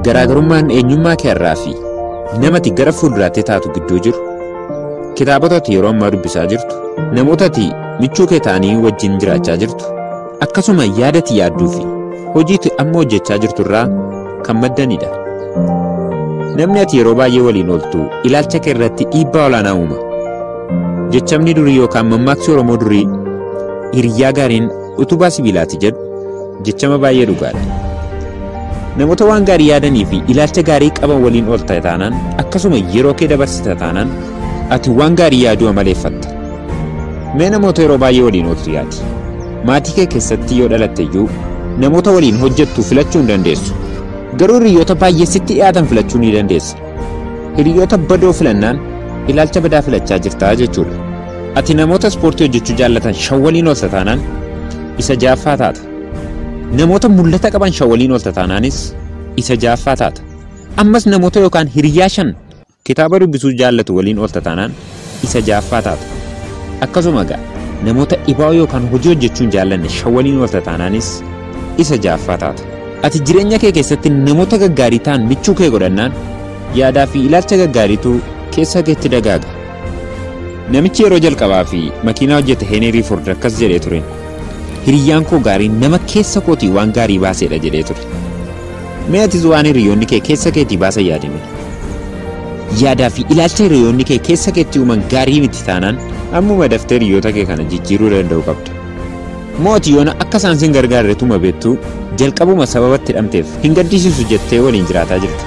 Garaagarummaan eenyummaa kee irraa fi nama ati gara fuulduraatti taatu gidduu jiru, kitaabota ati yeroo ammaa dubbisaa jirtu, namoota ati michuu kee ta'anii wajjin jiraachaa jirtu, akkasuma yaada ati yaadduu fi hojii ati amma hojjechaa jirtu irraa kan maddanidha. Namni ati yeroo baay'ee waliin ooltu ilaalcha kee irratti dhiibbaa olaanaa uuma. Jechamni durii yookaan mammaaksi Oromoo durii hiriyyaa gaariin Utubaa sibiilaati jedhu jechama baay'ee dhugaadha. Namoota waan gaarii yaadanii fi ilaalcha gaarii qaban waliin oolta taanaan akkasuma yeroo kee dabarsita taanaan ati waan gaarii yaaduu amaleeffatta. Mee namoota yeroo baay'ee waliin ooltu yaadi. Maatii kee keessatti yoo dhalatte iyyuu namoota waliin hojjettu filachuu hin dandeessu. Garuu hiriyoota baay'ee sitti dhiyaatan filachuu ni dandeessa. Hiriyoota badoo filannaan ilaalcha badaa filachaa jirtaa jechuudha. Ati namoota ispoortii hojjechuu jaallatan shan waliin oolta taanaan isa jaaffaa taata. Namoota mul'ata qaban shan waliin oolta taanaanis isa jaaffaa taata. Ammas namoota yookaan hiriyaa shan kitaaba dubbisuu jaallatu waliin oolta taanaan isa ja'affaa taatu. Akkasuma egaa namoota dhibaa'oo yookaan hojii hojjechuun jaallanne shan waliin oolta taanaanis isa ja'affaa taatu. Ati jireenya kee keessatti namoota gaggaarii ta'an michuu kee godhannaan yaadaa fi ilaalcha gaggaariitu keessa keetti dagaaga. Namichi yeroo jalqabaa fi makiinaa hojjete Heeneerii Ford akkas jedhee ture. Hiriyyaan koo gaariin nama keessa kootii waan gaarii baaseedha jedhee ture. Mee atis waan hiriyoonni kee keessa keetii baasan yaadime. Yaadaa fi ilaalcha hiriyoonni kee keessa keetti uuman gaarii miti taanaan ammuma daftee hiriyoota kee kana jijjiiruu danda'u qabda. Moo ati yoona akka isaan sin gargaarre tuma beektuu jalqabuma sababa itti dhamteef hin gaddisiisu jettee waliin jiraataa jirta.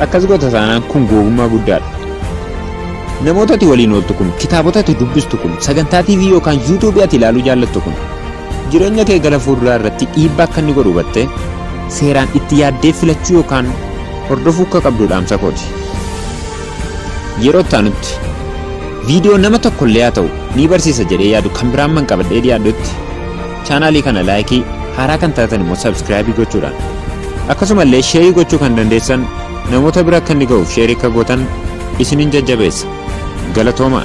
Akkas goota taanaan kun googummaa guddaadha. Namoota ati waliin ooltu kun, kitaabota ati dubbistu kun, sagantaa TV yookaan YouTube ati ilaaluu jaallattu kun Jireenya kee gara fuulduraa irratti dhiibbaa akka inni godhu hubattee seeraan itti yaaddee filachuu yookaan hordofuu akka qabdu dhaamsa kooti. Yeroo itti aanutti viidiyoo nama tokko illee haa ta'u ni barsiisa jedhee yaadu kan biraan man qabadhee dhiyaadhutti chaanaalii kana laayikii haaraa kan taatan immoo sabskiraabii gochuudhaan akkasuma illee sheerii gochuu kan dandeessan namoota bira akka inni ga'uuf sheerii akka gootan isinin jajjabeessa galatoomaa.